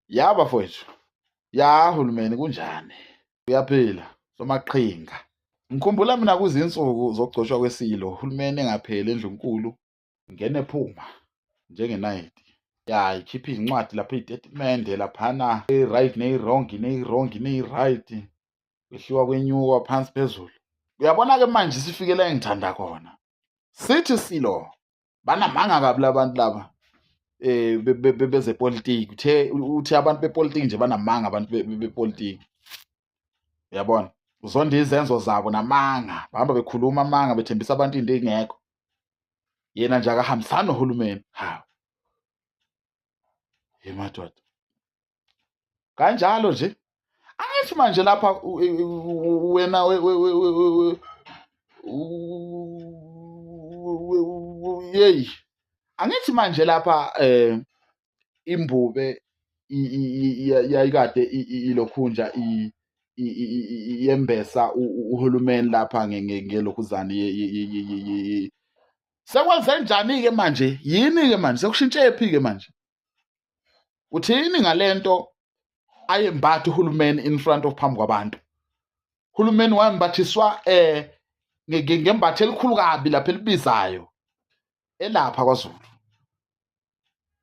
ya bafowethu ya hulumeni kunjani uyaphila somaqhinga ngikhumbula mina kuzinsuku zokugcoshwa kwesilo uhulumeni engapheli endlunkulu ngene phuma njengenayiti ya ikhiphe izincwadi lapho iy'tetimende laphana eyi-right neyi-wrong neyi-wrong neyi-right kwehliwa kwenyuka phansi phezulu uyabona-ke manje sifikela engithanda khona sithi silo banamanga kabi labantu laba eh bezepolitiki uthe uthi abantu bepolitiki nje banamanga abantu bepolitiki uyabona uzonda izenzo zabo namanga bahamba bekhuluma amanga bethembisa abantu into engekho yena nje akahambisani nohulumeni hawu ye madoda kanjalo nje angithi manje lapha wena yeyi angithi manje lapha eh imbube yayikade ilokhunja yembesa uhulumeni lapha ngelokhuzane sekwenze njani-ke manje yini-ke manje sekushintshephi-ke manje uthini ngalento ayembathi uhulumeni in front of phambi kwabantu uhulumeni wayembathiswa eh ngembathe elikhulu kabi lapha elibizayo elapha kwaZulu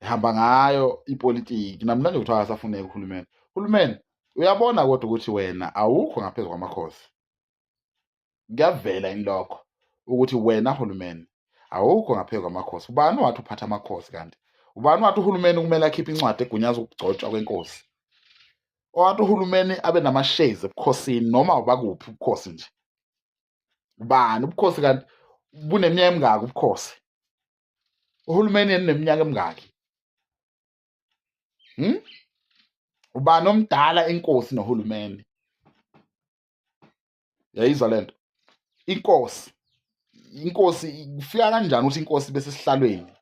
ehamba ngayo ipolitiki namhlanje kuthiwa akasafuneki uhulumeni uhulumeni uyabona kodwa ukuthi wena awukho ngaphezu kwamakhosi kuyavela yini lokho ukuthi wena hulumeni awukho ngaphezu kwamakhosi ubani wathi uphatha amakhosi kanti ubani wathi uhulumeni kumele akhiphe incwadi egunyaza ukugcotshwa kwenkosi owathi uhulumeni abe namashezi ebukhosini noma ubakuphi ubukhosi nje ubani ubukhosi kanti buneminyaka emingaki ubukhosi uhulumeni yena neminyaka emingaki hmm? ubani omdala inkosi nohulumeni yayizwa le nto inkosi inkosi kufika kanjani ukuthi inkosi ibe sesihlalweni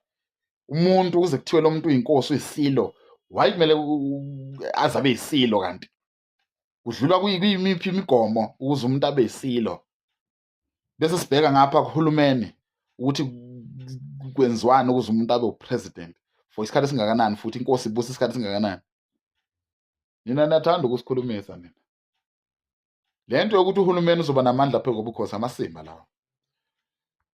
umuntu kuze kuthiwe lo muntu uyinkosi uyisilo waye kumele aze abe yisilo kanti kudlula kuyimiphi imigomo ukuze umuntu abe yisilo bese sibheka ngapha kuhulumeni ukuthi kwenziwani ukuze umuntu abe upresident for isikhathi esingakanani futhi inkosi ibusa isikhathi esingakanani nina niyathanda ukusikhulumisa nina le nto yokuthi uhulumeni uzoba namandla phezu kobukhosi amasimba lawo